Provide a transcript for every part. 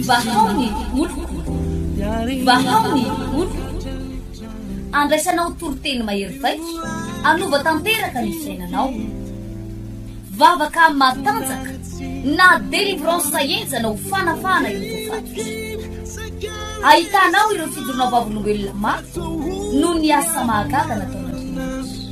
Vahao ny oloko Vahao ny oloko Andraisanao toriteny mahery vaika Hanova tanteraka ny fiainanao Vavaka matanjaka Na délivrance henjana ho fanafahana ireo voafaty Ahitanao ireo fidorona vavolombelona maro Noho ny asa mahagaga nataon'Andriamanitra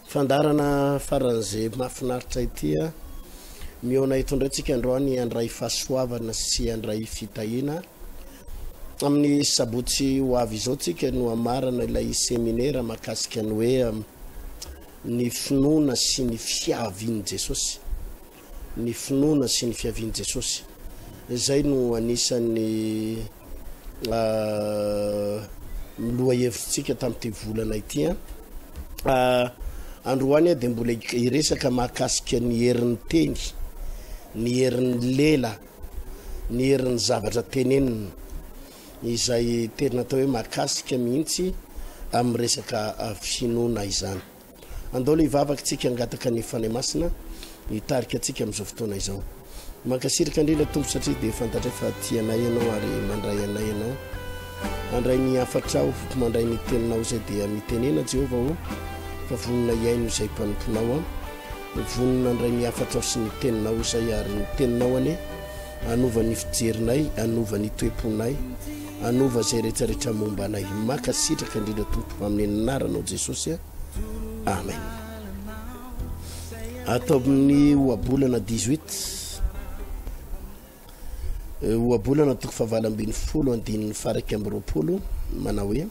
Fandaharana faran'izay mahafinaritra ity a! Mihaona eto indray tsika androany handray fahasoavana sy handray fitahiana. Amin'ny sabotsy ho avy izao tsika no hamarana ilay seminera mahakasika ny hoe ny finoana sy ny fiavian'i Jesosy. ny finoana sy ny fiavian'i Jesosy. Izay no anisan'ny lohahevitrintsika tamin'ity volana ity. Androany dia mbola hiresaka mahakasika ny herin'ny teny, ny herin'ny lela, ny herin'ny zavatra tenenina izay tena atao hoe makasika mihitsy amin'ny resaka finoana izany. Andao le hivavaka tsika hangataka ny Fanahy Masina hitarika antsika amin'izao fotoana izao. Mankasiraka indrindra Tompo satria dia fantatray fa tia anay Ianao ary mandray anay Ianao. Andray ny hafatrao, mandray ny teninao izay dia mitenena Jehovah ô fa vonona hihaino izay mpanomponao aho. Vonona handray ny hafatrao sy ny teninao izay ary ny teninao anie Hanova ny fijerinay, hanova ny toe-ponay, hanova izay rehetra rehetra momba anay. Mankasitraka indrindra Tompo amin'ny anaranao Jesosy a. Amen. Ato amin'ny ohabolana 18 eh, ohabolana toko fahavalo ambin'ny folo andininy faraika amby roapolo manao hoe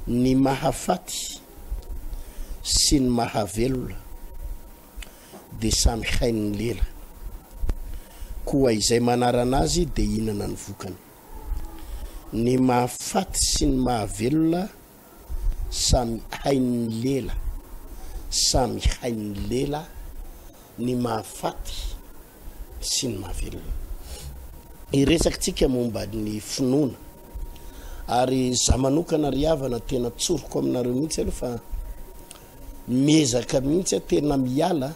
ny mahafaty sy ny mahavelona dia samy hain'ny lela. Koa izay manarana azy dia hinana ny vokany. Ny mahafaty sy ny mahavelona samy hain'ny lela. Samy hain'ny lela ny mahafaty sy ny mahavelona. Iresakitsika momba ny finoana. Ary za manokana ry havana tena tsoriko aminareo mihitsy aloha fa miezaka mihitsy a tena miala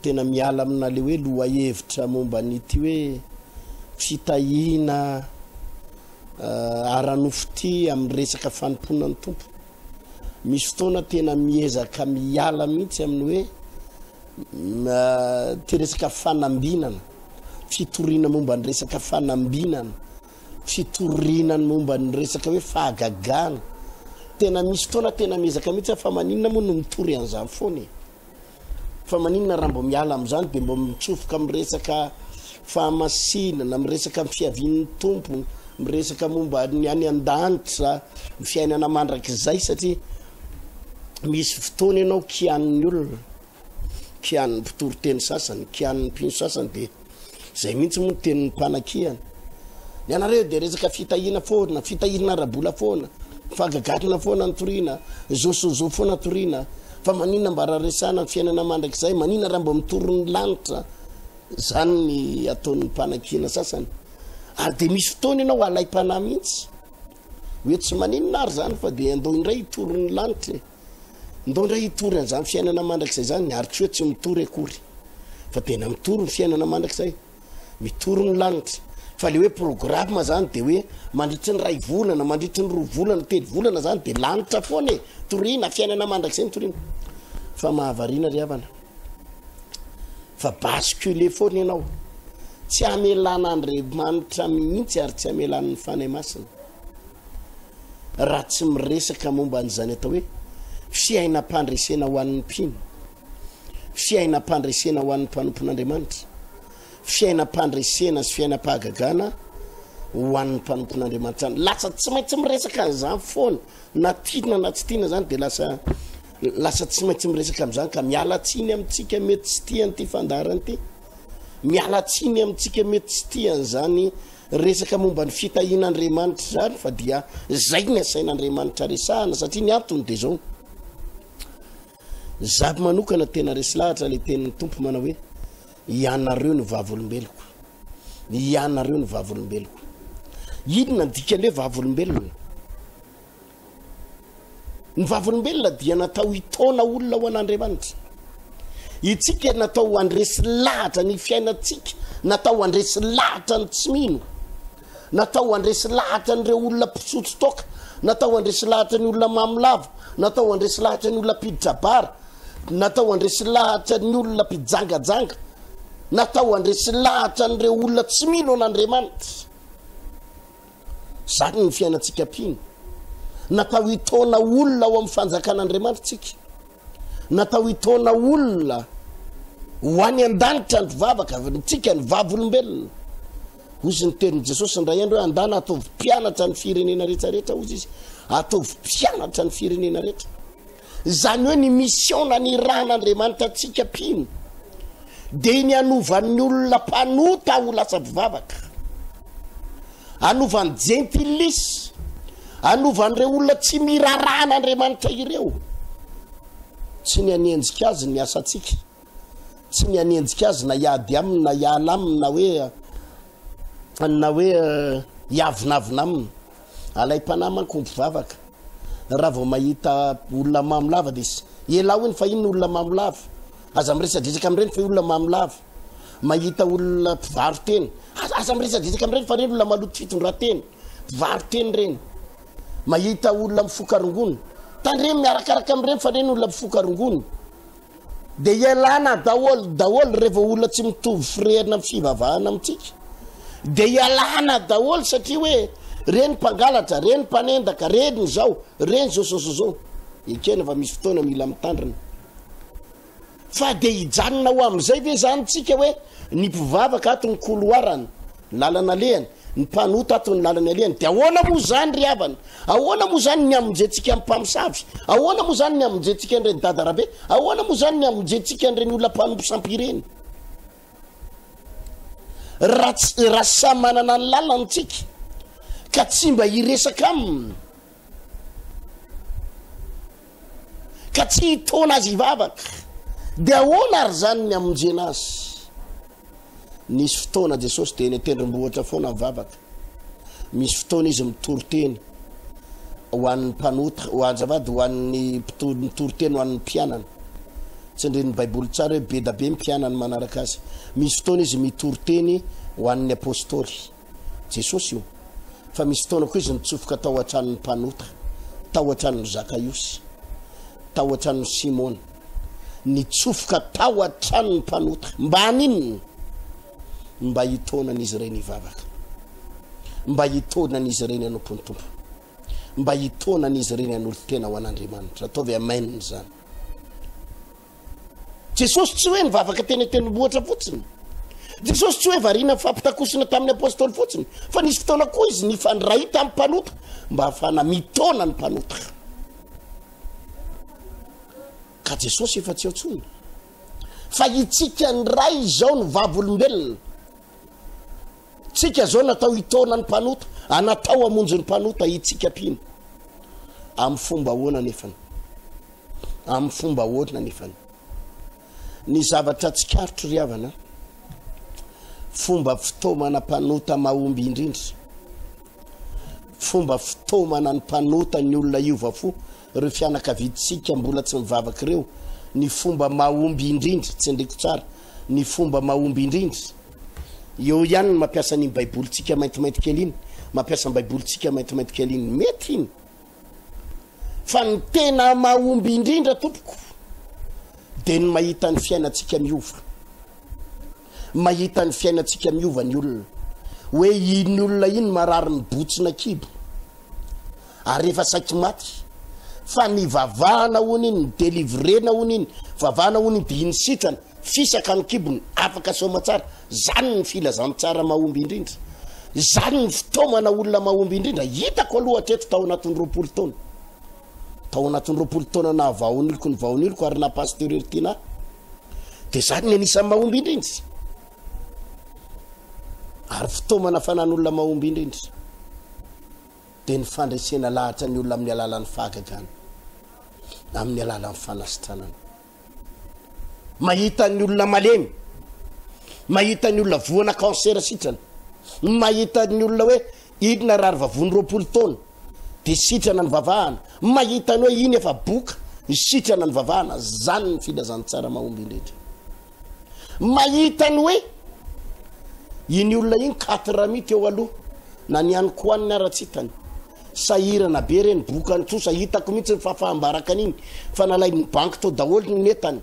tena miala amina le hoe lohahevitra momba an'ity hoe fitahiana ara-nofo ty amin'ny resaka fanompoana ny tompo misy fotoana tena miezaka miala mihitsy amin'ny hoe ty resaka fanambinana fitoriana momba ny resaka fanambinana fitoriana ny momba ny resaka hoe fahagagana. Tena misy fotoana tena miezaka mihitsy aho fa maninona moa no mitory an'izany foana e. Fa maninona raha mbo miala amin'izany dia mbo mitsofoka miresaka fahamasinana, miresaka amin'ny fiavian'ny tompo, miresaka momba ny any an-danitra, ny fiainana mandrakizay satria misy fotoana ianao kianin'ny olona. kianin'ny mpitoriteny sasany, kianin'ny mpino sasany dia izay mihitsy moa ny tenin'ny mpanakiana. Ny anareo dia resaka fitahiana foana, fitahiana ara-bola foana, fagagakina foana ny toriana, zo sy zo foana toriana, fa manina mba raha resana ny fiainana mandrakizay, manina raha mba mitory ny lanitra, izany ny ataon'ny mpanakiana sasany. Ary dia misy fotoana ianao alaim-panahy mihitsy, hoe tsy maninona ary izany fa dia andao indray hitory ny lanitra e. Ndao indray hitory an'izany fiainana mandrakizay izany ary koa tsy mitory akory fa tena mitory ny fiainana mandrakizay mitory ny lanitra fa le hoe programme zany de hoe mandritry ny ray volana mandritry ny roa volana telo volana zany de lanitra foana e torina fiainana mandrakizay ny torina fa mahavariana ry havana fa bascule foana ianao tsy hamelana andriamanitra mihitsy ary tsy hamelan'ny fanahy masina raha tsy miresaka momba an'izany atao hoe fiainam-pandresena ho an'ny mpino, fiainam-pandresena ho an'ny mpanompon'Andriamanitra, fiainam-pandresena sy fiainam-pahagagana ho an'ny mpanompon'Andriamanitra any. Lasa tsy maintsy miresaka an'izany foana, na tiana na tsy tiana zany dia lasa lasa tsy maintsy miresaka amin'izany ka miala tsiny amintsika mety tsy tian'ity fandaharana ity. Miala tsiny amintsika mety tsy tian'izany Resaka momba ny fitahiana Andriamanitra izany fa dia izay ny asain'Andriamanitra resahana satria ny antony dia izao. Za manokana tena resy lahatra ilay tenin'ny Tompo manao hoe ianareo ny vavolombeloko. Ianareo ny vavolombeloko. Inona ny dikan'ny hoe vavolombelona? Ny vavolombelona dia natao hitaona olona ho an'Andriamanitra. Itsika natao ho andresy lahatra ny fiainantsika, natao andresy lahatra ny tsy mino, natao andresy lahatra an'ireo olona mpisotro toaka, natao andresy lahatra ny olona mamolavo, natao andresy lahatra ny olona mpiditra bara, natao andresy lahatra ny olona mpijangajanga, natao andresy lahatra an'ireo olona tsy mino an'Andriamanitra. Izany ny fiainantsika mpino. Natao hitaona olona ao amin'ny fanjakan'Andriamanitra tsika. Natao hitaona olona ho any an-danitra ny vavaka, tsika ny vavolombelona. Hozy ny tenin'i Jesosy indray andro hoe andana ataovy mpianatra ny firenena rehetra rehetra, hozy izy, ataovy mpianatra ny firenena rehetra. Izany hoe ny mission nanirahan'Andriamanitra antsika mpino dia ny hanovan'ny olona mpanota ho lasa mpivavaka, hanovan'ny jentilis, hanovan'ireo olona tsy mirarahan'Andriamanitra ireo, tsy ny hanenjika azy ny asantsika. tsy ny hanenjika azy na hiady aminy na hiala aminy na hoe na hoe hiavonavona aminy alaim-panahy manko mpivavaka raha vao mahita olona mamo lava dia s- ialao iny fa iny olona mamo lava aza miresadresaka amin'ireny fa olona mamo lava mahita olona mpivaro-teny aza, aza miresadresaka amin'ireny fa ireny olona maloto fitondran-teny mpivaro-teny ireny mahita olona mifoka rongony tandremo miarakaraka amin'ireny fa ireny olona mifoka rongony Dia ialana daholo daholo revo olona tsy mitovy firehana amin'ny fivavahana amintsika dia ialana daholo satria hoe reny mpangalatra reny mpanendaka reny izao reny zao zao zao zao ekena fa misy fotoana mila mitandrina fa dia hijanona ho amin'izay ve zany tsika hoe ny mpivavaka ato ny koloarany Ny lalana alehany, ny mpanota ato ny lalany alehany, dia ahoana moa izany ry havana? Ahoana moa izany ny hamonjentsika ny mpamosavy? Ahoana moa izany ny hamonjentsika an'ireny dada rabe? Ahoana moa izany ny hamonjentsika an'ireny olona mpanompo sampy ireny? Raha samy manana ny lalany tsika ka tsy mba hiresaka aminy, ka tsy hitona azy hivavaka dia ahoana ary zany ny amonjena azy nisy fotoana jesosy dia eny atendrombohitra foana mivavaka misy fotoana izy mitory teny ho an'ny mpanota ho anjavady ho an'ny mpito- mitory teny ho an'ny mpianana tsy ndrin'ny baiboly tsara hoe be da be ny mpianany manaraka azy misy fotoana izy mitory teny ho an'ny apôstôly Jesosy io fa misy fotoana koa izy nitsofoka tao an-tranon'ny mpanota, tao an-tranon'i Zakaiosy, tao an-tranon'i Simona. Nitsofoka tao an-tranon'ny mpanota. Mba haninona? Mba hitaonan'izy ireny hivavaka. Mba hitaonan'izy ireny hanompo ny Tompo. Mba hitaonan'izy ireny hanolo-tena ho an'Andriamanitra. Ataovy amen izany. Jesosy tsy hoe nivavaka teny an-tendrombohitra fotsiny. Jesosy tsy hoe variana nifampitakosina tamin'ny apôstôly fotsiny, fa nisy fotoana koa izy nifandray tamin'ny mpanota mba hahafahana mitaona ny mpanota. Ka Jesosy efa tsy ao intsony. Fa itsika indray izao ny vavolombelona Tsika zao natao hitaona ny mpanota, a natao hamonjy ny mpanota, itsika mpino. Amin'ny fomba ahoana nefany? Amin'ny fomba ahoana nefany? Ny zavatra tsikaritro ry havana, fomba fitaomana mpanota mahomby indrindra, fomba fitaomana ny mpanota ny olona hiova fo Ireo fianakaviantsika mbola tsy mivavaka ireo, ny fomba mahomby indrindra, tsindriko tsara, ny fomba mahomby indrindra, eo ihany ny mampiasa an'iny Baibolintsika maintimainty kely iny, mampiasa ny Baibolintsika maintimainty kely iny. Mety iny. Fa ny tena mahomby indrindra, tompoko, dia ny mahita ny fiainantsika miova. mahita ny fiainantsika miova ny olona hoe iny olona iny marary mibotsina kibo ary efa saiky maty fa ny vavahana ony iny ny delivrena ony iny vavahana ony dia iny sitrana fisaka ny kibony afaka somatsara zany ny filazantsara mahomby indrindra zany ny fitaomana olona mahomby indrindra hitako aloha hatreto tao anatin'ny roapolo taona tao anatin'ny roapolo taona nahavaoniloko ny vaoniloko ary na pasteur Ertina dia zany ny anisan'ny mahomby indrindra ary fitaomana fanan'olona mahomby indrindra dia ny fandresena lahatra ny olona amin'ny alalan'ny fahagagana amin'ny alalan'ny fanasitranana mahita ny olona malemy mahita ny olona voana cancer sitrana mahita ny olona hoe Inona rary vavony roapolo taona de sitrana ny vavahana mahita ny hoe iny efa boka ny sitrana ny vavahana zany ny filazantsara mahomby indrindra mahita ny hoe iny olona iny quatre mi teo aloha na ny any koaniny ara tsitany sahirana be reny boka ny trosa hitako mihitsy ny fafaham-baraka an'iny fa nalay ny banky tao daholo ny netany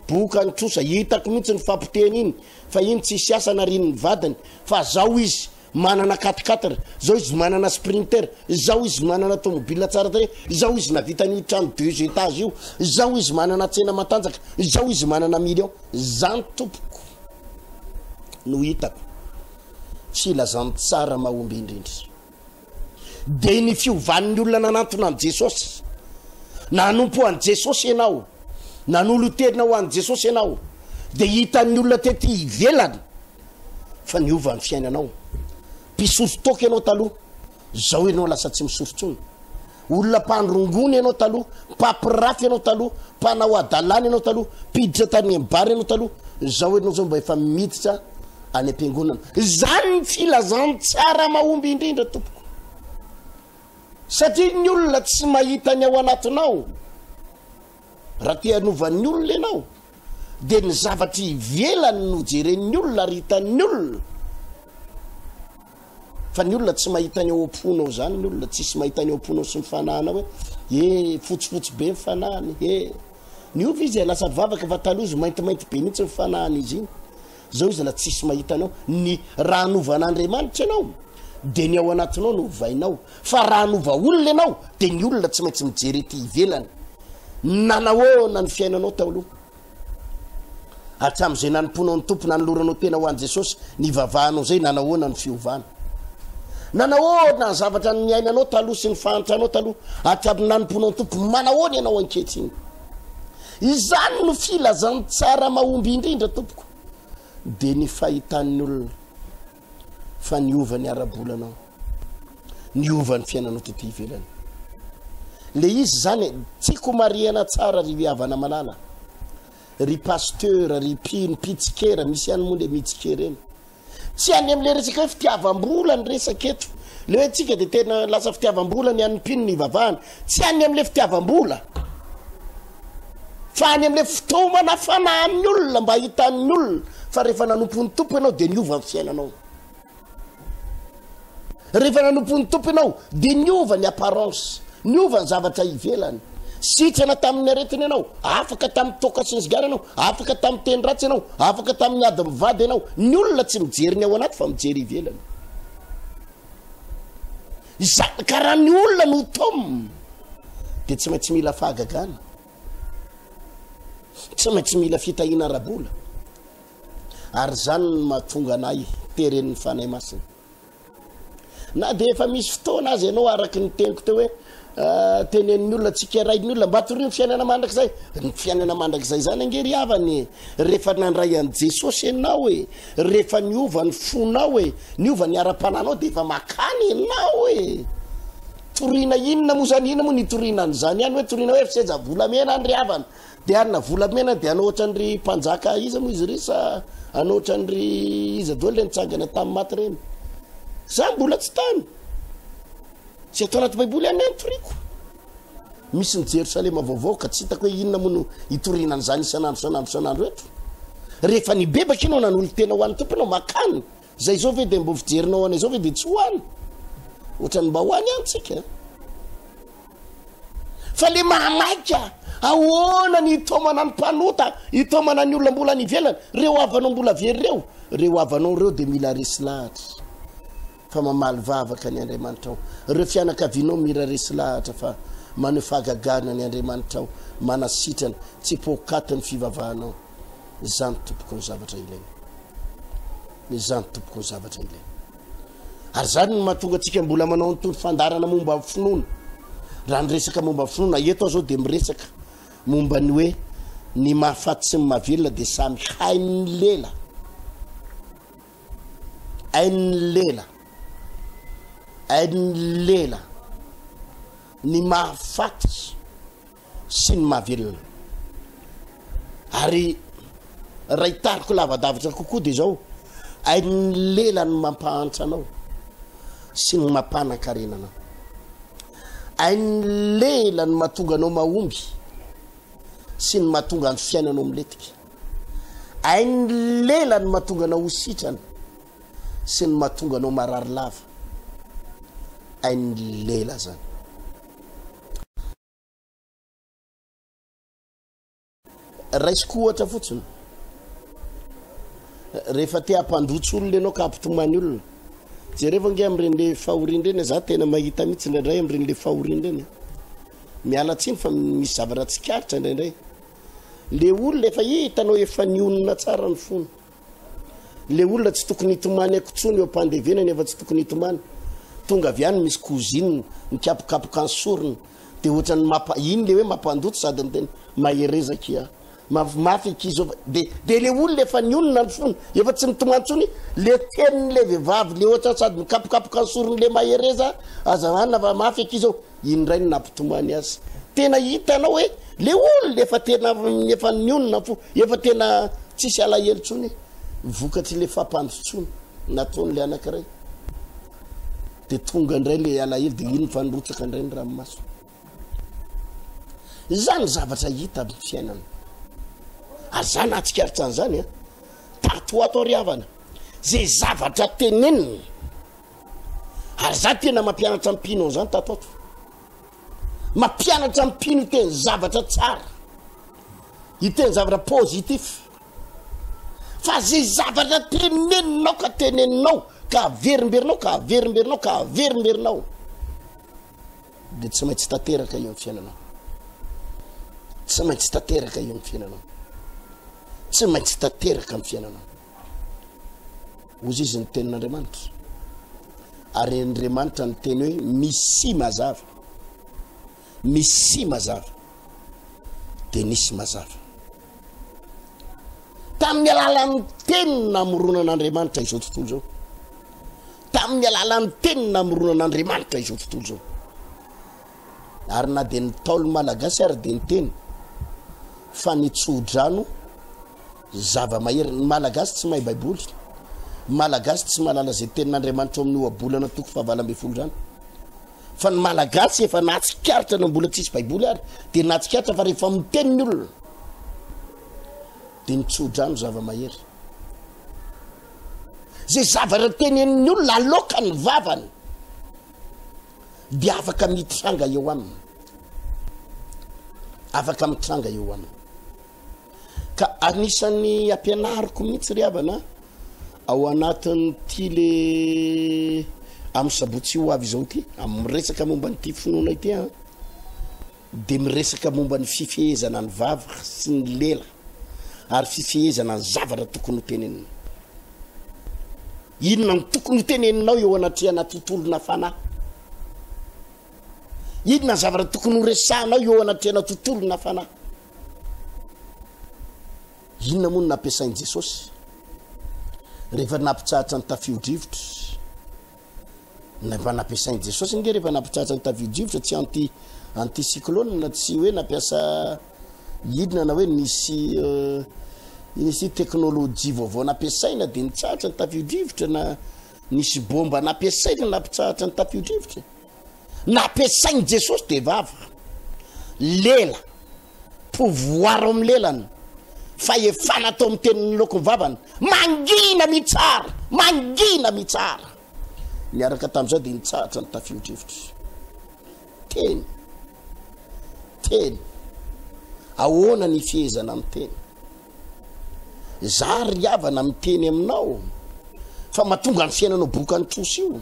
boka ny trosa hitako mihitsy ny fampotehana iny fa iny tsisy asana rin'ny vadiny fa zao izy Manana quat-quatre, izao izy manana sprinter, izao izy manana tomobile tsara tarehy, izao izy navita an'io trano deux étages io, izao izy manana tsena matanjaka, izao izy manana million. Zany tompoko no hitako tsy ilazan'ny tsara mahomby indrindra. Dia ny fiovan'ny olona nanantona an'i Jesosy. Nanompo an'i Jesosy ianao, nanolo-tena ho an'i Jesosy ianao, dia hitan'ny olona tety ivelany, fa niova ny fiainanao. Mpisory toaka ianao taloha, zao ianao lasa tsy misory tsony. Olona mpandrongony ianao taloha, mpapirafy ianao taloha, mpanao adalana ianao taloha, mpiditra tany ambara ianao taloha, zao ianao zao mba efa miditra any am-piangonana. Zany ny filazan tsara mahomby indrindra tompoko. Satria ny olona tsy mahita ny ao anatinao. Raha te hanova ny olona ianao dia ny zavatra ivelany no jeren'ny olona ary hitan'ny olona fa ny olona tsy mahita ny ao am-ponao zany ny olona tsisy mahita ny ao am-ponao sy ny fanahinao hoe e fotsifotsy be ny fanahiny e ny ovy izy lasa vavaka fa taloha izy maintimainty be mihitsy ny fanahin'izy iny Zao izy na tsisy mahita anao, ny raha hanova an'Andriamanitra ianao dia ny ao anatinao no hovainao, fa raha hanova olona ianao dia ny olona tsy maintsy mijery ety ivelany. Nanahoana ny fiainanao tao aloha? Hatramin'izay nanompoanao ny Tompo, nanoloranao tena ho an'i Jesosy, nivavahanao izay, nanahoana ny fiovana? Nanahoana ny zavatra niainanao taloha sy ny fahantranao taloha hatramin'ny nanompoanao ny Tompo, manahoana ianao ankehitriny? Izany no filazantsara mahomby indrindra tompoko dia ny fahitan'ny olona fa niova ny ara-bolanao, niova ny fiainanao tety ivelany. Le izy izany e, tiako marihana tsara ry Havana Malala, ry pasteur, ry mpino, mpitsikera, misy ihany moa le mitsikera eny, Tsy any amin'ilay resaka hoe fitiavam-bola ny resaka eto. Le hoe tsika dia tena lasa fitiavam-bola ny an'ny mpino ny hivavahana. Tsy any amin'ilay fitiavam-bola. Fa any amin'ilay fitaomana fanahan'ny olona mba hitan'ny olona fa rehefa nanompon'ny tompo ianao dia niova ny fiainanao. Rehefa nanompo ny Tompo ianao dia niova ny apparence, niova ny zavatra ivelany. Sitrana tamin'ny aretina ianao, afaka tamin'ny toaka sy ny sigara ianao, afaka tamin'ny teny ratsy ianao, afaka tamin'ny ady mivady ianao. Ny olona tsy mijery ny ao anaty fa mijery ivelany. Izany ka raha ny olona no tom dia tsy maintsy mila fahagagana, tsy maintsy mila fitahiana ara-bola, ary izany no mahatonga anay teren'ny Fanahy Masina. na dia efa misy fotoana azy ianao araky ny teniko teo hoe ah, tenen'ny olona tsikerain'ny olona mba torio ny fiainana mandrakizay ny fiainana mandrakizay zany ange ry havany rehefa nandray an'i jesosy ianao e rehefa niova ny fonao e niova ny ara-pananao dia efa makany ianao e torina inona moa zany inona moa ny torina an'izany ihany hoe torina hoe fiseja volamena any ry havana De Anna volamena de anao otrany ry mpanjaka iza moa izy ry sa anao otrany ry iza doely le nitsangana tam maty reny za mbola tsy tany tsy ato anaty baiboly any any toriko misy ny jerosalema vaovao ka tsy hitako hoe inona moa no hitoriana an'izany isan'andro isan'andro isan'andro eto rehefa nibebaka ianao nanolo tena ho an'ny tomponao makany Zay zao ve dia mbo fijerinao any zao ve dia tsy ho any? Ohatrany mba ho any any tsika. Fa le mahamaika ahoana ny itaomana ny mpanota, itaomana ny olona mbola any ivelany, reo havanao mbola very reo, reo havanao reo dia mila resy lahatra fa mamaly vavaka ny Andriamanitrao. Reo fianakavianao mira resy lahatra fa maneho fahagagana ny Andriamanitrao, manasitrana, tsy poakaty ny fivavahanao. Izany tompoko ny zavatra ilaina. Izany tompoko ny zavatra ilaina. Ary izany no mahatonga antsika mbola manao an'itony fandarana momba ny finoana. Raha ny resaka momba ny finoana, eto aho izao dia miresaka momba ny hoe ny mahafaty sy ny mahavelona dia samy hain'ny lela. Hain'ny lela. Hain'ny lela. Ny mahafaty sy ny mahavelona. Ary raha hitariko lavadavitra kokoa dia izao, ain'ny lela ny mampahantra anao sy ny mampanan-karena anao. Ain'ny lela ny mahatonga anao mahomby sy ny mahatonga ny fiainanao miletika. Ain'ny lela ny mahatonga anao ho sitrana sy ny mahatonga anao marary lava. Ain'ny lela zany. Raisiko ohatra fotsiny. Rehefa te hampandrotsy olona ianao ka hampitomany olona. Jereo ange amin'ireny fahoriana ireny, za tena mahita mihitsy indraindray amin'ireny fahoriana ireny. Miala tsiny fa misy zavatra tsikaritra indraindray. Le olona efa hitanao efa nionona tsara ny fony. Le olona tsy tokony hitomany aiko tsony eo ampandevenany efa tsy tokony hitomany tonga avy any misy cousine mikapokapoka ny sorony de ohatrany mapa iny le hoe mampandoto sady miteny mahereza kia maf mafy akia zao de de le olona efa nionona ny fony efa tsy mitomany tsony le tenin'le vehivavy le ohatrany sady mikapokapoka ny sorony le mahereza aza anina fa mafy akia zao Iny indray no nampitomany azy. Tena hitanao hoe le olona efa tena efa nionona ny fo, efa tena tsisy alahelo intsony e. Vokatry le fampandrotsona nataony le anankiray. De tonga indray le alahelo de iny fa nirotsaka indray ny ranomaso. Izany zavatra hita amin'ny fiainana. Ary za nahatsikaritra an'izany a. Tato ho ato ary havana. Ze zavatra tenenina Ary za tena mampianatra mpino an'izany tato ato. Mampianatra mpino hiteny zavatra tsara, hiteny zavatra positif. Fa zay zavatra teneninao ka teneninao ka averimberinao ka averimberinao ka averimberinao dia tsy maintsy tanteraka eo amin'ny fiainanao. Tsy maintsy tanteraka eo amin'ny fiainanao. Tsy maintsy tanteraka amin'ny fiainanao. Ozy izy ny tenin'Andriamanitra. Ary Andriamanitra ny teny hoe misy mazava. Misy mazava. Dia nisy mazava. Tamin'ny alalan'ny teny namoronan'Andriamanitra izao tontolo izao. Tamin'ny alalan'ny teny namoronan'Andriamanitra izao tontolo izao. Ary na dia ny taolo malagasy ary dia ny teny fa ny tsodrano Zava-mahery, ny Malagasy tsy mahay baiboly, ny Malagasy tsy mahalala izay tenin'Andriamanitra ao amin'ny Ohabolana toko fahavalo ambin'ny folo izany. Fa ny Malagasy efa nahatsikaritra na mbola tsisy baiboly ary dia nahatsikaritra fa rehefa miteny ny olona dia mitsodrano zava-mahery. Izay zavatra tenenin'ny olona aloka ny vavany dia afaka mitranga eo aminy, afaka mitranga eo aminy. Ka anisan'ny ampianariko mihitsy ry havana ao anatin'ity le amin'ny sabotsy ho avy izao ity amin'ny resaka momba ny tia finoana ity a dia miresaka momba ny fifehezana ny vavy sy ny lela ary fifehezana ny zavatra tokony ho tenenina inona ny tokony ho teneninao eo anatrehana tontolona fanahy inona ny zavatra tokony ho resahanao eo anatrehana tontolona fanahy Inona moa no nampiasain'i Jesosy rehefa nampitsahatra ny tafio-drivotra? Mba nampiasain'i Jesosy ange rehefa nampitsahatra ny tafio-drivotra, tsy anti anti cyclone, tsy hoe nampiasa hidina na hoe nisy euh, nisy teknolojia vaovao nampiasaina dia nitsahatra ny tafio-drivotra na nisy bomba nampiasaina nampitsahatra ny tafio-drivotra. nampiasain'i Jesosy dia vava, lela, pouvoir ao amin'ny lelany, fahefana atao amin'ny tenin'ny lokon'ny vavany, mangina mitsara, mangina mitsara. Niaraka tamin'izay dia nitsahatra ny tafio-drivotra. Teny, teny, ahoana ny fihezana amin'ny teny? Zary ry havana miteny aminao fa matonga ny fiainanao bokan'ny trosa io.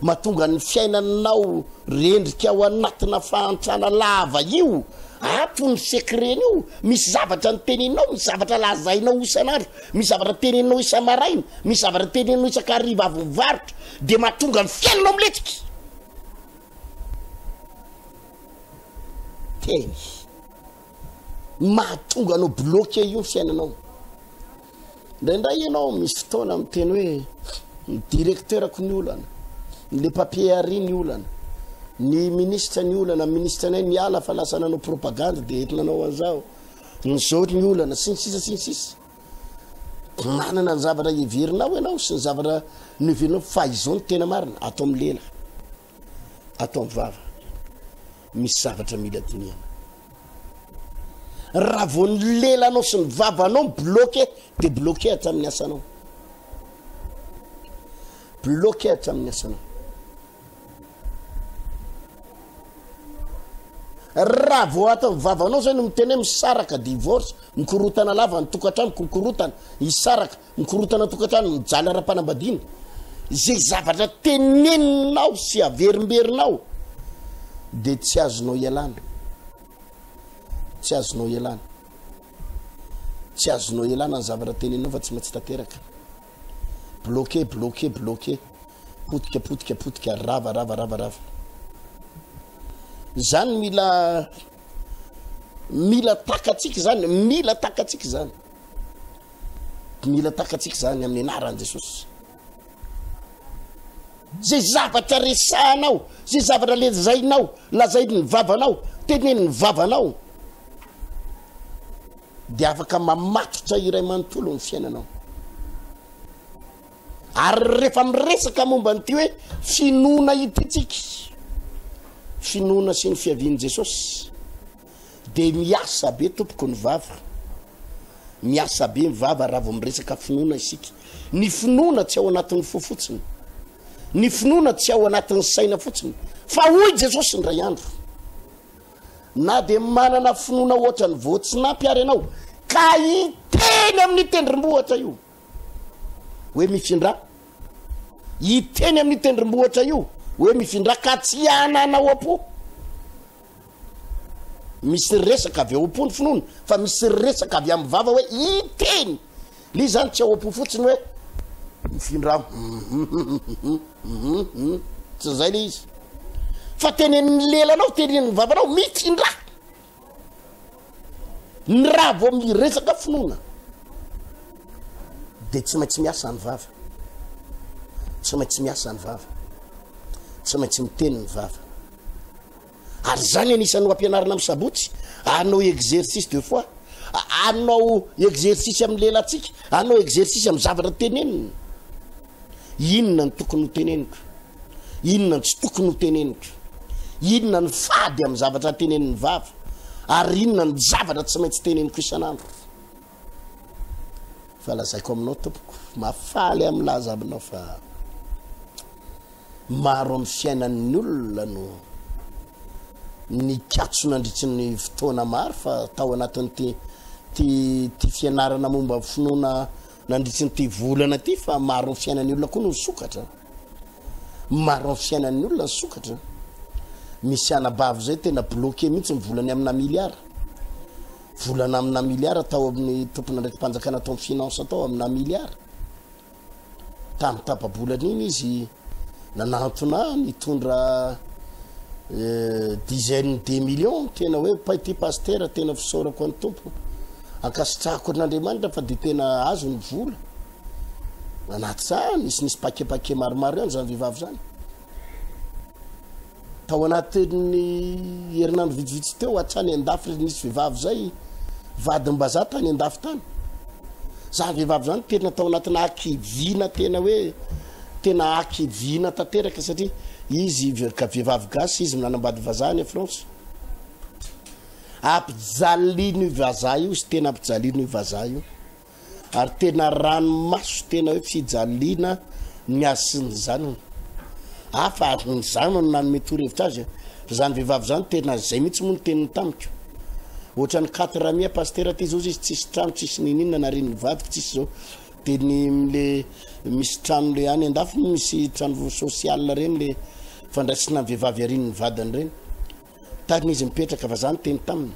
Mahatonga ny fiainanao rendrika ao anatina fahantrana lava io. Ato ny secret-ny io. Misy zavatra niteneninao, misy zavatra lazainao isan'andro, misy zavatra teneninao isa-maraina, misy zavatra teneninao isan-kariva avy mivarotra, dia mahatonga ny fiainanao miletika. Teny. Mahatonga anao bloqué io ny fiainanao. Indraindray ianao misy fotoana miteny hoe ny directeurako ny olana, le papier Harry ny olana, ny ministre ny olana, ministre anay niala fa lasa nanao propagande dia eto nanao an'izao, ny zao ny olana, sy ny sisa sy ny sisa. Manana ny zavatra heverinao ianao sy ny zavatra noheverinao fa izao ny tena marina, ato amin'ny lela. Ataovy vava, misy zavatra mila dinihana. Raha vao ny lelanao sy ny vavanao bloqué dia bloqué hatramin'ny asanao. Bloqué hatramin'ny asanao. raha vao atao ny vavanao zay no miteny hoe misaraka divorce mikorotana lava ny tokantrano kokorotana hisaraka Ny korontana an-tokantrano mijaly ara-panambadiana, izay zavatra teneninao sy averimberinao dia tsy azonao ialana, tsy azonao ialana, tsy azonao ialana ny zavatra teneninao fa tsy maintsy tanteraka. Bloqué, bloqué, bloqué, potika, potika, potika, rava, rava, rava, rava. Zany mila mila takatsika zany, mila takatsika zany. Dia mila takatsika izany amin'ny anaran'i Jesosy. Zay zavatra resahanao, zay zavatra lezainao, lazain'ny vavanao, tenenin'ny vavanao, dia afaka mamatotra iray manontolo ny fiainanao. Ary rehefa miresaka momba an'ity hoe finoana ity tsika, finoana sy ny fiavian'i Jesosy, Dia miasa be tompoko ny vava. Miasa be ny vava raha vao miresaka finoana isika. Ny finoana tsy ao anatin'ny fo fotsiny. Ny finoana tsy ao anatin'ny saina fotsiny. Fa hoy Jesosy indray andro, na dia manana finoana ohatra ny voatsinampy ary ianao, ka hiteny amin'ny tendrombohitra io. Hoe mifindra. Hiteny amin'ny tendrombohitra io. Hoe mifindra ka tsy hanana ao am-po. Misy resaka avy ao am-po ny finoana, fa misy resaka avy amin'ny vava hoe hiteny. Ilay izy izany tsy ao am-po fotsiny hoe mifindra aho. Tsy izay ilay izy. Fa tenenin'ny lelanao, tenenin'ny vavanao, mifindra. Ny raha vao miresaka finoana dia tsy maintsy miasa ny vava. Tsy maintsy miasa ny vava. Tsy maintsy miteny ny vava. Ary izany anisan'ny ho ampianarina amin'ny sabotsy, anao exercice de foi, anao exercice amin'ny lelantsika, anao exercice amin'ny zavatra tenenina. Inona ny tokony ho teneniko? Inona ny tsy tokony ho teneniko? Inona ny fady amin'ny zavatra tenenin'ny vava? Ary inona ny zavatra tsy maintsy teneniko isan'andro? fa lazaiko aminao tompoko mafaly amin'ny laza aminao fa maro amin'ny fiainan'ny olona no nikatso nandritry ny fotoana maro fa tao anatin'ity ty ty fianarana momba ny finoana nandritry ny ty volana ty fa maro amin'ny fiainan'ny olona koa no sokatra maro amin'ny fiainan'ny olona ny sokatra misy anabavy zay tena bloqué mihitsy ny volany amina miliara Volana amina miliara tao amin'ny tompon'andraiki-panjakana tao amin'ny finance tao amina miliara. Tamin'ny tapa-bolana iny izy nanantona ahy nitondra eh, dizaine de millions tena hoe pay ty pastera tena fisaorako an'ny tompo ankasitrahako an'Andriamanitra fa dia tena azo ny vola anaty zany nisy nisy pakepake maromaro ihany zany vehivavy zany Tao anatin'ny herinandro vitsivitsy teo hatrany an-dafy ry nisy vehivavy izay vadimbazaha tany an-dafy tany. Izany vehivavy izany tena tao anatina hakiviana tena hoe tena hakiviana tanteraka satria izy vehivavy gasy izy nanambady vazaha any France. Ampijalino io vazaha io izy tena ampijalino io vazaha io. Ary tena ranomaso tena hoe fijaliana ny azy sy ny zanany. Hafa ary ny zanany nanome torohevitra azy. Izany vehivavy izany tena izay mihitsy moa ny teniny tamiko. Ohatran'ny katy ramia pasitera ty izao izy tsisy trano, tsisy nininona narin'ny vadiko tsisy izao. Dia ny le misy trano le any andafy misy trano social ireny le fandraisina ny vehivavy arin'ny vadiny ireny. Tany izy mipetraka fa za niteny taminy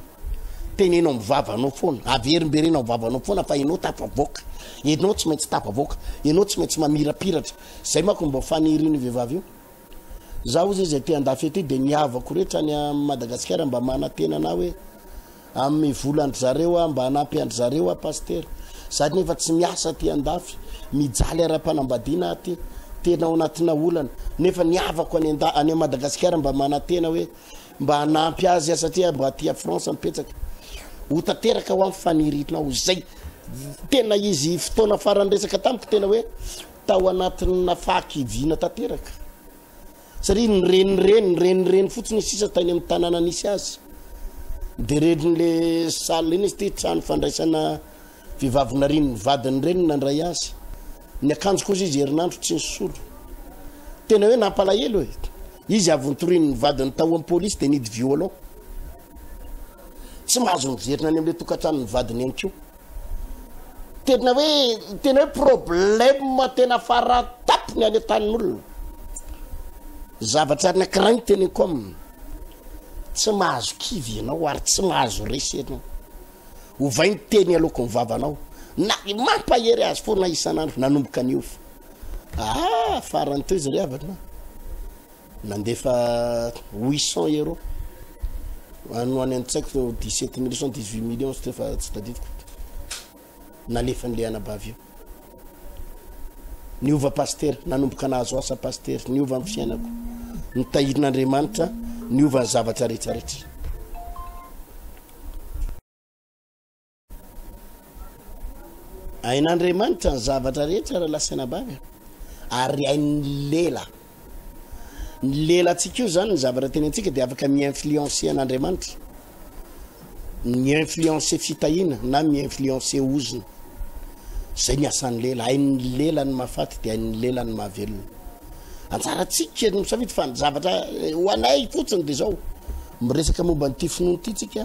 teneno am vavanao foana averimberena am vavanao foana fa enao tafavoaka enao tsy maintsy tafavoaka enao tsy maintsy mamirapiratra zay mako mba faniriny vehivavy io za ozy izay te andafy aty de ny havako rehetra any madagasikara mba manatena na hoe Amy vola ndry zareo ah mba hanampy andry zareo ah pasitera za nefa tsy miasa aty andafy mijaly arampanambadiana ah ty tena ao anatina olana nefa ny havako any anda any Madagasikara mba manatena hoe mba hanampy azy ah satria mba aty a France mipetraka ho tanteraka ho am fanirinao zay tena izy fotoana farany resaka tamiko tena hoe tao anatina fahakiviana tanteraka satria ny renireny ny renireny fotsiny sisa tany amin'ny tanàna nisy azy dia renin'le sala iny izy ty trano fandraisana vehivavinarin'ny vadiny reny nandray azy ny akanjo kosa izy herinandro tsy nisolo tena hoe nampalahelo e izy avy nitorin'ny vadiny tao amin'ny polisy dia nidy violon tsy mahazo miverina any amin'le tokantranon'ny vadiny ihany koa Tena hoe tena hoe problème tena faratapony any an-tanin'olona. Zavatra anankiray ny teneniko aminy. Tsy mahazo kivy ianao ary tsy mahazo resy ianao. Ovay ny teny aloako ny vavanao. Na mampahery azy foana isan'andro nanomboka niofo. Ah, farany teo izy ry havana. Nandefa huit cents euros. Ano any an-tsaiko dix sept mille cent dix huit millions tsy efa tsy tadidiko. Nalefan'ilay anabavy io. Niova pasitera, nanomboka nahazo asa pasitera, niova amin'ny fiainako. Nitahirin'Andriamanitra, niova ny zavatra rehetra rehetra. Hain'Andriamanitra ny zavatra rehetra ry lahy sy anabavy a! ary hain'ny lela. Ny lelantsika io zany ny zavatra teny antsika dia afaka mi-influencer an'Andriamanitra. Mi-influencer fitahiana na mi-influencer ozona. Zay ny asan'ny lela, hain'ny lela ny mahafaty dia hain'ny lela ny mahavelona. Anjarantsika ny misafidy fa ny zavatra eh, ho anay fotsiny dia zao. Miresaka momba an'ity finoana ity tsika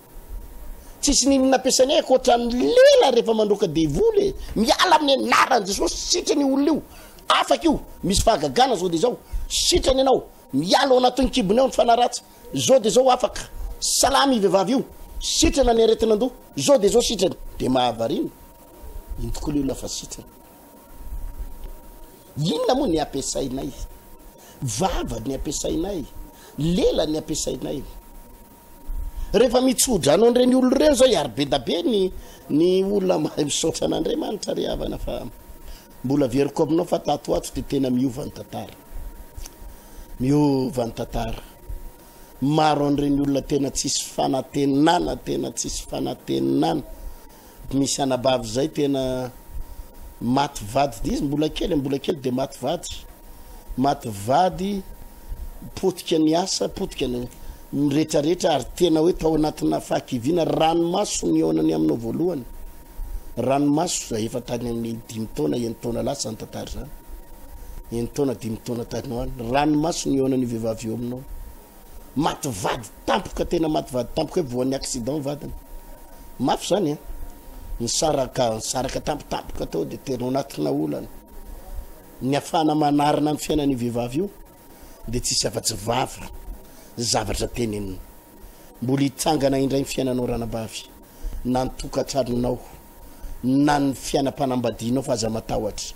Tsisy n'inona nampiasainay ankoatra ny lela rehefa mandroaka devoly e! Miala amin'ny anaran'i Jesosy, sitrana io olona io, afaka io, misy fahagagana zao de zao, sitrana ianao, miala ao anatin'ny kibony ao ny fanahy ratsy, zao de zao afaka, salama io vehivavy io, sitrana ny aretin'andoha, zao de zao sitrana, de mahavariana, iny tokoa le olona fa sitrana. Inona moa ny ampiasainay? Vava ny ampiasainay, lela ny ampiasainay. Rehefa mitsodrano an'ireny olona ireny izao iary bedabe ny ny olona mahay misaotra an'Andriamanitra ry havana fa mbola averiko aminao fa tato ato dia tena miova ny tantara. Miova ny tantara. Maro an'ireny olona tena tsisy fanantenana, tena tsisy fanantenana. Misy anabavy zay tena maty vady dizy mbola kely mbola kely de maty vady maty vady potika ny asa potika ny miretraretra ary tena hoe tao anatina fahakiviana ranomaso ny onany aminao voalohany ranomaso zay efa tany amin'ny dimy taona eny taona lasa ny tantara zany eny taona dimy taona tany hoany ranomaso ny onany vehivavy eo aminao Maty vady tampoka tena maty vady tampoka hoe voan'ny accident vadiny. Mafy zany a. Nisaraka nisaraka tampotampoka tao dia tena anatina olana. Ny afana manarina ny fiainan'io vehivavy io dia tsisy afa-tsy vava zavatra tenenina. Mbola hitsangana indray ny fiainanao ranabavy. na ny tokantranonao na ny fiainam-panambadianao fa aza matahotra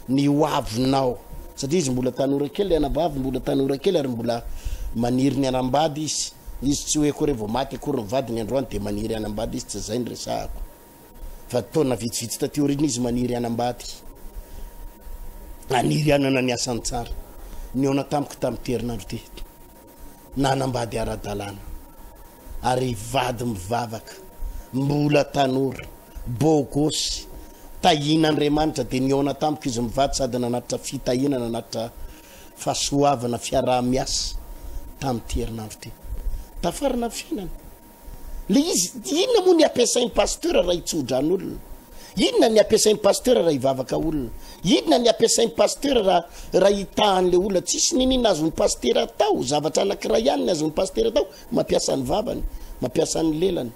ny ho avinao satria izy mbola tanora kely anabavy mbola tanora kely ary mbola maniry ny anambady izy izy tsy hoe akory vao maty akory ny vadiny androany dia maniry anambady izy tsy zay ny resahako fa taona vitsivitsy taty orina izy maniry anambady maniry anana ny asan-tsara ny ona tamiko tamin'ny terinandro tety nanambady ara-dalàna ary vady mivavaka, mbola tanora, beau gosse, tahian'Andriamanitra dia nihaona tamiko izy mivady sady nanatitra fitahiana, nanatitra fahasoavana, fiaraha-miasa tamin'ity herinandro ity. Tafarina ny fiainany. Le izy inona moa ny ampiasainy pasteur raha hitsodrano olona? Inona ny ampiasainy pasteur raha hivavaka olona? Inona ny ampiasainy pasteur raha raha hitahany le olona? Tsisy ninin azony pasteur atao, zavatra anakiray ihany ny azony pasteur atao, mampiasa ny vavany, mampiasa ny lelany.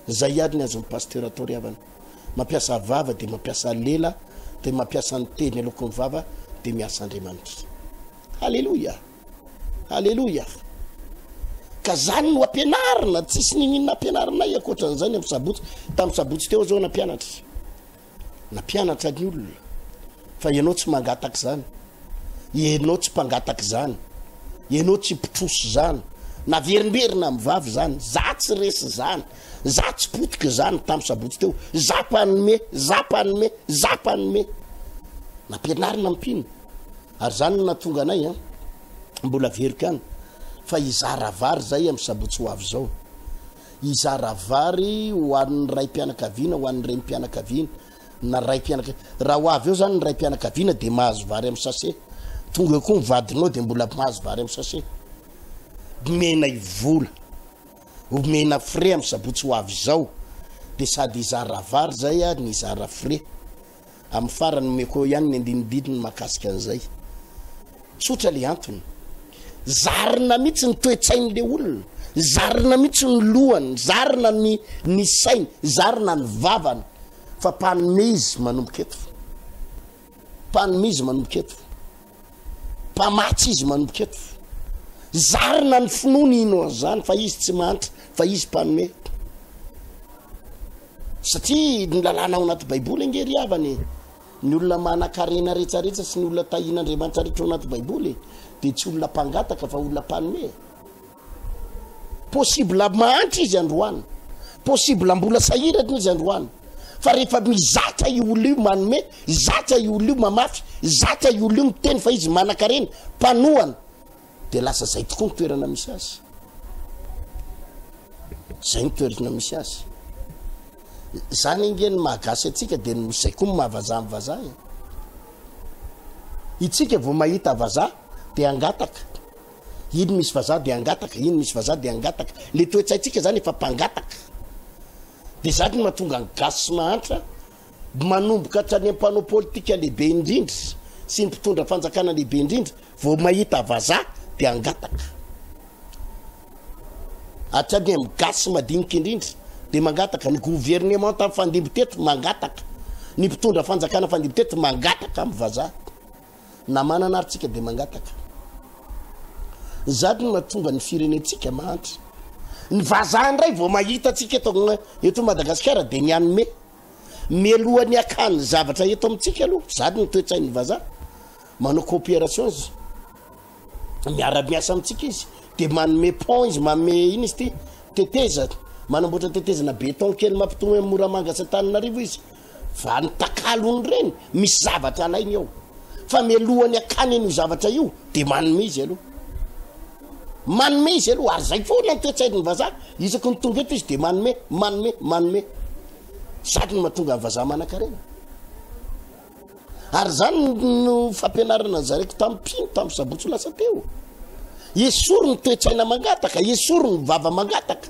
Zay ihany ny azony pasteur atao ry havana. Mampiasa vava de mampiasa lela de mampiasa ny teny aloakony vava de miasa Andriamanitra. Haleloia. Aleloia! Ka zany no ampianarina, tsisy nininona ampianarinay ankoatra an'izay ny amin'ny sabotsy. Tamin'ny sabotsy teo zao nampianatra. Nampianatra ny olona fa ianao tsy mangataka izany. Ianao tsy mpangataka izany. Ianao tsy mpitrosa izany. Naverimberina amin'ny vavy izany. Za tsy resy izany. Za tsy potika izany tamin'ny sabotsy teo. Za mpanome, za mpanome, za mpanome. Nampianarina mpino. Ary zany no nahatonga anay an, mbola veriko ihany fa hizara vary zay amin'ny sabotsy ho avy zao. Hizara vary ho an'ny raim-pianakaviana, ho an'ny renim-pianakaviana na raim-pianakaviana. Raha ho avy eo zany ny raim-pianakaviana dia mahazo vary amin'ny sase. Tonga eo koa ny vadinao dia mbola mahazo vary amin'ny sase. Omenay vola, omena frais amin'ny sabotsy ho avy zao. Dia sady hizara vary zay ary ny hizara frais. Amin'ny farany omeko eo ihany ny andinidininy mahakasika an'izay. Tsotra le antony. Zarina mihitsy ny toe-tsain'le olona, zarina mihitsy ny lohany, zarina ny ny sainy, zarina ny vavany fa mpanome izy manomboka eto. Mpanome izy manomboka eto. Mpamatsy izy manomboka eto. Zarina ny finoany hino an'izany fa izy tsy mahantra, fa izy mpanome. Satria ny lalàna ao anaty Baiboly ange ry havana e. Ny olona manan-karena rehetrarehetra sy ny olona tahian'Andriamanitra rehetra ao anaty Baiboly dia tsy olona mpangataka fa olona mpanome. Possible mahantra izy androany, possible mbola sahirana izy androany, fa rehefa mizatra io olona io manome, zatra io olona io mamafy, zatra io olona io miteny fa izy manankarena, mpanohana, dia lasa zay tokoa ny toerana misy azy. Zay ny toerana misy azy. Zany ange ny mahagasy atsika dia ny zay koa ny mahavazaha ny vazaha e. Itsika vao mahita vazaha dia angataka. Iny misy vazaha dia hangataka, iny misy vazaha dia hangataka. Le toe-tsaintsika zany efa mpangataka. De zany no mahatonga ny gasy sy mahantra manomboka hatrany am panao politika lehibe indrindra sy ny mpitondra fanjakana lehibe indrindra vao mahita vazaha dia hangataka. Hatrany am gasy madinika indrindra dia mangataka, ny governemanta fandimby teto mangataka, ny mpitondra fanjakana fandimby teto mangataka am vazaha. Na manana ary tsika dia mangataka. Zato no mahatonga ny firenentsika mahantra. Ny vazaha indray vao mahita antsika eto eto Madagasikara dia mianome. Mialohan'ny hakany zavatra eto amintsika aloha, zato no toetsain'ny vazaha. Manao coopération izy. Miara-miasa amintsika izy. Dia manome pont izy, manome iny izy ity, tetezana. Manamboatra tetezana béton kely mampitony amin'ny Moramanga sy Antananarivo izy. Fa ny takalony reny misy zavatra alainy ao. Fa mialohan'ny akany an'io zavatra io dia manome izy aloha. Manome izy aloha ary zay foana ny toetsain'ny vazaha. Isaky ny tonga eto izy dia manome, manome, manome. Zany no mahatonga ny vazaha manankarena. Ary zany no fampianarana zareko tamin'ny mpino tamin'ny sabotsy lasa teo. Esory ny toetsaina mangataka, esory ny vava mangataka.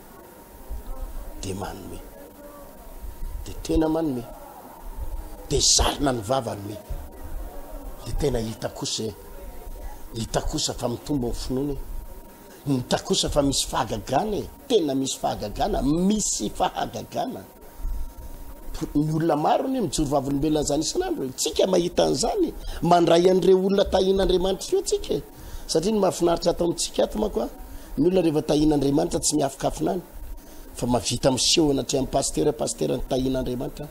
dia manome dia tena manome dia zarina ny vava nome dia tena hita kosa e hita kosa fa mitombo ny finoana e hita kosa fa misy fahagagana e tena misy fahagagana misy fahagagana ny olona maro ny mijoro vavolombelona an'izany isan'andro tsika mahita an'izany mandray an'ireo olona tahin'andriamanitra ireo tsika e. satria ny mahafinaritra atao amintsika ato mako a ny olona rehefa tahin'andriamanitra tsy miafikafina any fa mavita miseho anatri amin'ny pastera pastera ny tahin'andriamanitra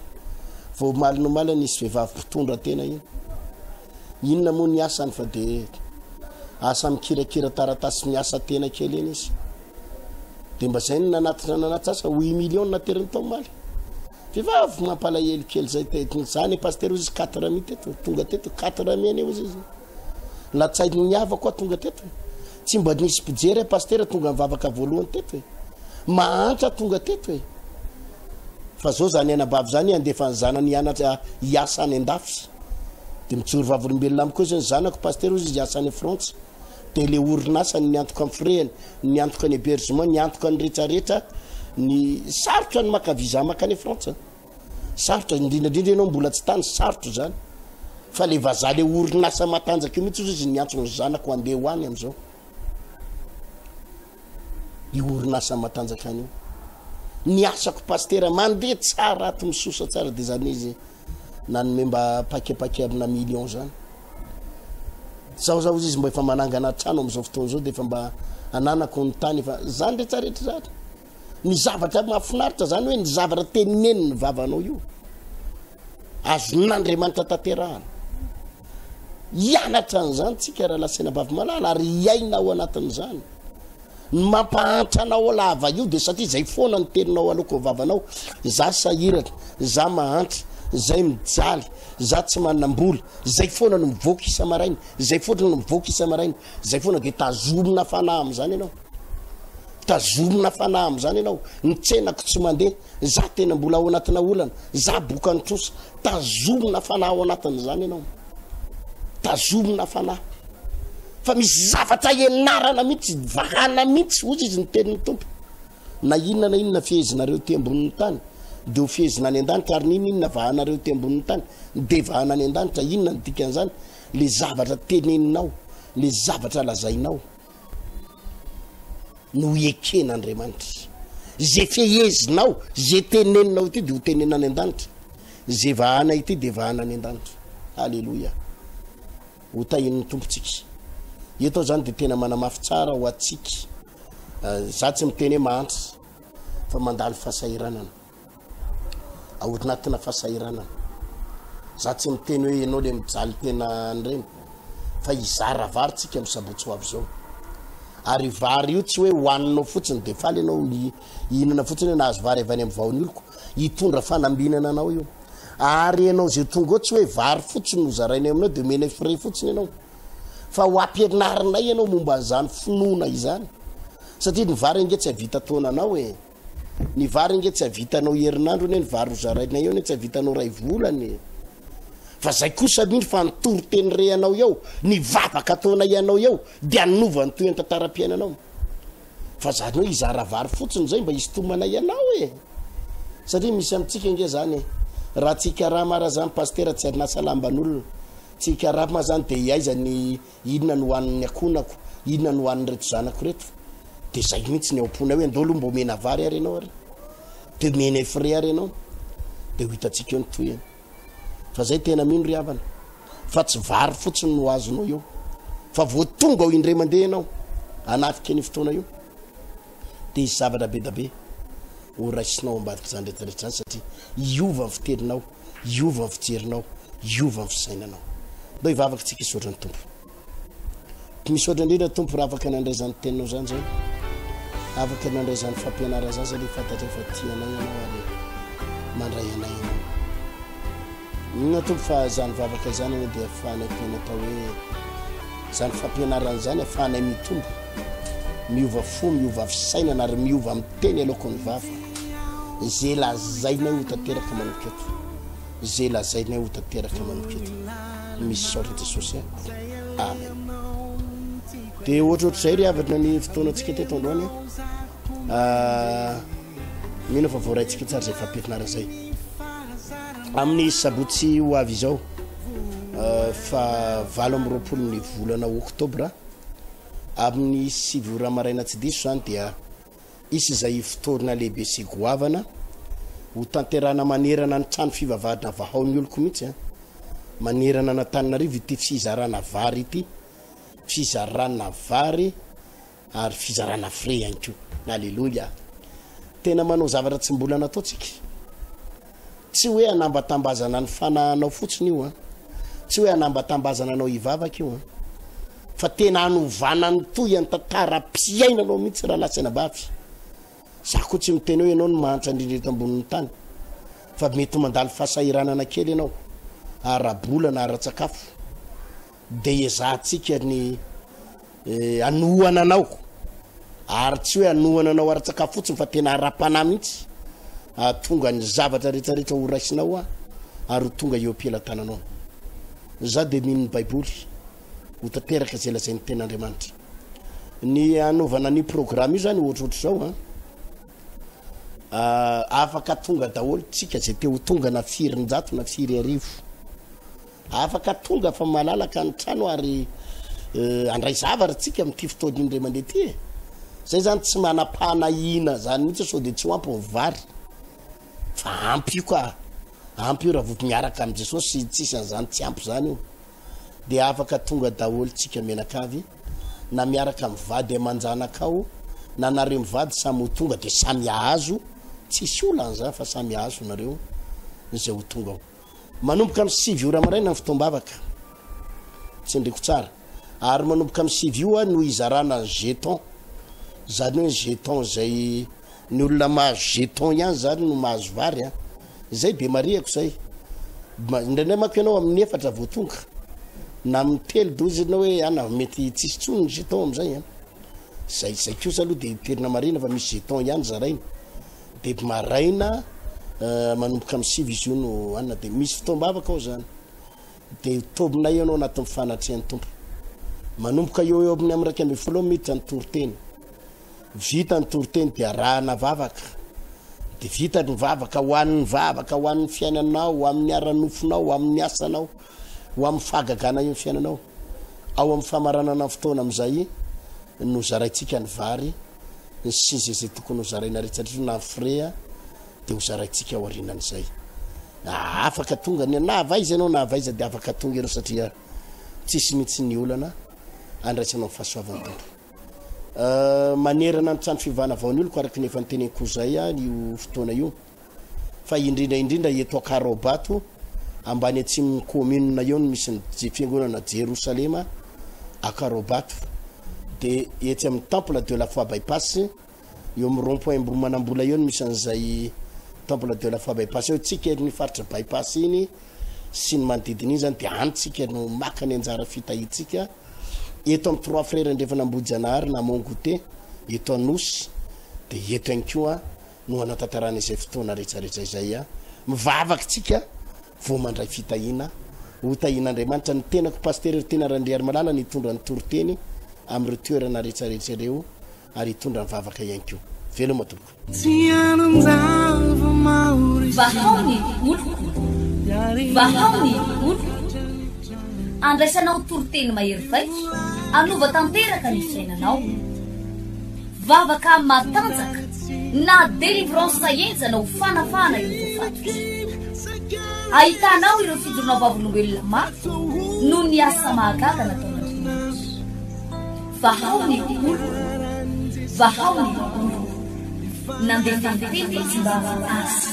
vao omaly nomaly nisy vehivavy mpitondra tena iny Inona moa ny asany fa dia asa mikirakira taratasy miasa tena kely eny izy. Dia mba zay no nanatitra nanatsasa ho i million nateriny tao maly. Vehivavy mampalahelo kely zay teto. Za ne pasteur ozy 4 mi teto, tonga teto 4 mi ane ozy izy. Latsainy ny havako tonga teto. Tsy mba nisy mpijery pasteur tonga mivavaka voalohany teto e. Mahantra tonga teto e. Fa zao zany anabavy zany andefa ny zanany hianatra hiasa any an-dafy. Dia mijoro vavolombelona amiko eo izay ny zanako, pasitera hozy izy hiasa any Frantsa. Dia ilay orinasa ny miantoka amin'ny firehana, ny miantoka ny hébergement, ny antoka ny rehetrarehetra, ny sarotra ny maka visa makany Frantsa. Sarotra, indrindraindrindra ianao mbola tsy tany, sarotra izany. Fa ilay vazaha ilay orinasa matanjaka io mihitsy hozy izy niantso ny zanako handeha ho any amin'izao. Io orinasa matanjaka any io. Ny asako pasitera mandeha tsara ato misosa tsara dia izany izy nanome mba paquet paquet amina million zany zaho zaho izy mba efa manangana trano amizao fotoana zao de efa mba ananako ny tany efa zany retsaretra zany ny zavatra mahafinaritra zany hoe ny zavatra teneniny ny vavanao io azon'andriamanitra tanterahana hianatra an'izany tsika raha lasena bavy malala ary hiaina ao anatin'izany Ny mampahantra anao ao lava io de satria zay foana ny teninao aloako vavanao, za sahirana, za mahantra, zay mijaly, za tsy manambola, zay foana no mivoaka isa maraina, zay foatra no mivoaka isa maraina, zay foana de tazomina fanahy amzany enao, tazomina fanahy amzany enao, ny tsenako tsy mande, za tena mbola ao anatina olana, za boka nitrosa, tazomina fanahy ao anatinzany enao. Tazomina fanahy fa misy zavatra ianarana mihitsy, vahana mihitsy, ozy izy ny tenin'ny tompo. Na inona na inona fihezinareo ty ambonin'ny tany, dia ho fihezina any an-danitra, ary n'inona inona vahanareo ty ambonin'ny tany, dia vahana any an-danitra. Inona ny dikan'izany? Le zavatra teneninao, le zavatra lazainao. no ieken'Andriamanitra. Ze fehezinao, ze teneninao ity dia ho tenena any an-danitra. Ze vahana ity dia vahana any an-danitra. Aleloia. Ho tahin'ny tompontsika. Eto zany dia tena manamafy tsara ho atsika. Eh, za tsy miteny hoe mahantra fa mandalo fasahiranana. Ao anatina fahasahiranana. Za tsy miteny hoe ianao le mijaly tena an'ireny fa hizara vary tsika amin'ny sabotsy ho avy izao. Ary vary io tsy hoe hohaninao fotsiny dia faly ianao hihinana fotsiny hoe nahazo vary avy any amin'ny vahon'ny oloko. Hitondra fanambinana anao io. Ary ianao izay tonga ao tsy hoe vary fotsiny no zarainay aminao dia omenay frais fotsiny ianao. Fa ho ampianarinay ianao momba an'izany finoana izany. Satria ny vary ange tsy havita taonanao e. Ny vary ange tsy havitanao herinandro anie ny vary ho zaraina eo anie tsy havitanao ray volana e. Fa zay kosa anie ny fanontoro teny re anao eo, ny vavaka ataonay anao eo dia anova ny toy antantara-piainanao. Fa zany hoe izara vary fotsiny zay mba hisintomanay anao e. Satria misy amintsika ange zany e. Raha tsy hikarama ara zany pasitera tsy hanasa lamban'olona. Tsy hikarama zany dia aiza ny Inona no hohanin'ny akonako? Inona no hohanin'ireto zanako ireto? Dia izay mihitsy ny ao am-ponay hoe ndao aloha mba omena vary ary ianao ary dia omenay frais ary ianao dia ho hitantsika eo ny tohiny fa zay tena mino ry havana fa tsy vary fotsiny no azonao eo fa vao tonga ao indray mandeha ianao anafika ny fotoana io dia hisy zavatra be da be ho raisinao ao ambadik'izany rehetrarehetra izany satria hiova ny fiteninao, hiova ny fijerinao, hiova ny fisainanao. Ndao hivavaka isika hisaotra ny Tompo. Misaotra indrindra Tompo raha afaka nandray izany teninao izany zay. Afaka nandray izany fampianarana izany satria fantatray fa tia anay ianao ary mandray anay ianao. Inona Tompo fa izany vavaka izany anie dia afahanay tena atao hoe izany fampianarana izany afahanay mitombo, miova fo, miova fisainana ary miova amin'ny teny aloako ny vava. Izay lazainay ho tanteraka manomboka eto. Izay lazainay ho tanteraka manomboka eto. Misaotra Jesosy. Amen. Dia ohatrohatr'izay ry havana ny fotoanantsika teto androany. Mino fa voaraintsika tsara izay fampianarana izay amin'ny sabotsy ho avy izao euh, fa valo amin'ny roapolo ny volana oktobra amin'ny sivy ora maraina tsy diso izany dia isy izay ifotorona lehibe sy goavana ho tanterana manerana ny trano fivavahadra vahao ny oloko mihitsy a manerana anatanina rivo ity fizarana vary ity fizarana vary Ary fizarana frais ihany koa. Aleloia. Tena manao zavatra tsy mbola nataontsika. Tsy hoe hanambatambazana ny fanahanao fotsiny io an. Tsy hoe hanambatambazana anao hivavaka io an. Fa tena hanovana ny toy an tantaram-piainanao mihitsy raha latsana bavy. Za koa tsy miteny hoe ianao no mahantra indrindra eto ambonin'ny tany. Fa mety mandalo fahasahiranana kely ianao. Ara-bola na ara-tsakafo. dia hiezahantsika ny hanohana anao, ary tsy hoe hanohana anao ara-tsakafo fotsiny fa tena ara-panahy mihitsy, hahatonga ny zavatra rehetrarehetra ho raisinao aho, ary ho tonga eo am-pelatananao. Za dia mino ny Baiboly ho tanteraka izay lazain'ny Tenin'Andriamanitra. Ny hanaovana an'io programme io zany ohatrohatr'izao a. Ah, afaka tonga daholo tsika izay te ho tonga na firy njato na firy arivo. Afaka tonga fa malalaka ny trano ary handray zavatra tsika amin'ity fotoana indray mandeha ity e! Zay zany tsy manam-panahiana zany mihitsy sao dia tsy ho ampy ny vary fa ampy io ka! Ampy io raha vao miaraka amin'i Jesosy tsisy an'izany tsy ampy zany io! Dia afaka tonga daholo tsika mianakavy na miaraka amin'ny vady aman-janakao na nareo mivady samy ho tonga dia samy ahazo tsisy olan'izany fa samy ahazo nareo izay ho tonga ao. Manomboka amin'ny sivy ora maraina ny fotoam-bavaka, tsindriko tsara, ary manomboka amin'ny sivy ora no hizarana ny jeton, izany hoe ny jeton izay ny olona mahazo jeton ihany izany no mahazo vary a, izay be marihako izay, indraindray manko ianao amin'ny efatra vao tonga, na amin'ny telo dozy ianao hoe ana mety tsisy intsony ny jeton amin'izay a, izay izay kosa aloha dia toerana marihina fa misy jeton ihany zaraina. Deby maraina manomboka amin'ny sivy izy io no hanina dia misy fotoam-bavaka ao izany dia tobina ianao anatin'ny fanatrehan'ny tompo manomboka eo eo amin'ny amiraika ambin'ny folo miditra ny toriteny vita ny toriteny dia arahana vavaka dia vita ny vavaka ho an'ny vavaka ho an'ny fiainanao ho amin'ny ara-nofonao ho amin'ny asanao ho amin'ny fahagagana io ny fiainanao ao amin'ny famaranana ny fotoana amin'izay no zaraintsika ny vary ny seza izay tokony ho zaraina rehetraretra na ny frais dia ho zaraintsika aorianan'izay na afaka tonga ny na avy aiza ianao na avy aiza dia afaka tonga ianao satria tsisy mihitsy ny olana andraisanao ny fahasoavan'ny tompo Euh, manerana ny trano fivana vao ny oloko araka ny efa niteneniko zay ah, io fotoana io fa indrindra indrindra eto Akaraobato ambany atsimon'ny kaominina eo no misy ny je- fiangonana Jerosalema Akaraobato dia etsy amin'ny temple de la foi bypass eo amin'ny rond point Amboromanambola eo no misy an'izay temple de la foi bypass eo tsika eto ny faritra bypass iny sy ny manodidina iny zany dia any tsika no maka ny anjara fitahiantsika eto amin'ny trois frères andrefana Ambohijanahary na Mont Goûter eto Anosy dia eto ihany koa no hanatantarana izay fotoana rehetrarehetra izay a. Mivavaka isika vao mandray fitahiana. Ho tahian'Andriamanitra ny tenako Pasitera Ertena Randriarimalala ny hitondra ny toriteny amin'ireo toerana rehetrarehetra ireo ary hitondra ny vavaka ihany koa. Veloma tompoko. Vahao ny oloko, vahao ny oloko. Andraisanao toriteny mahery vaika hanova tanteraka ny fiainanao. Vavaka matanjaka na délivrance enjana ho fanafahana ireo voafatotra. Ahitanao ireo fidorona vavolombelona mafy noho ny asa mahagaga nataon'Andriamanitra. Vahao ny olo, vahao ny olo. Nandefa ny teny tsy mba azy.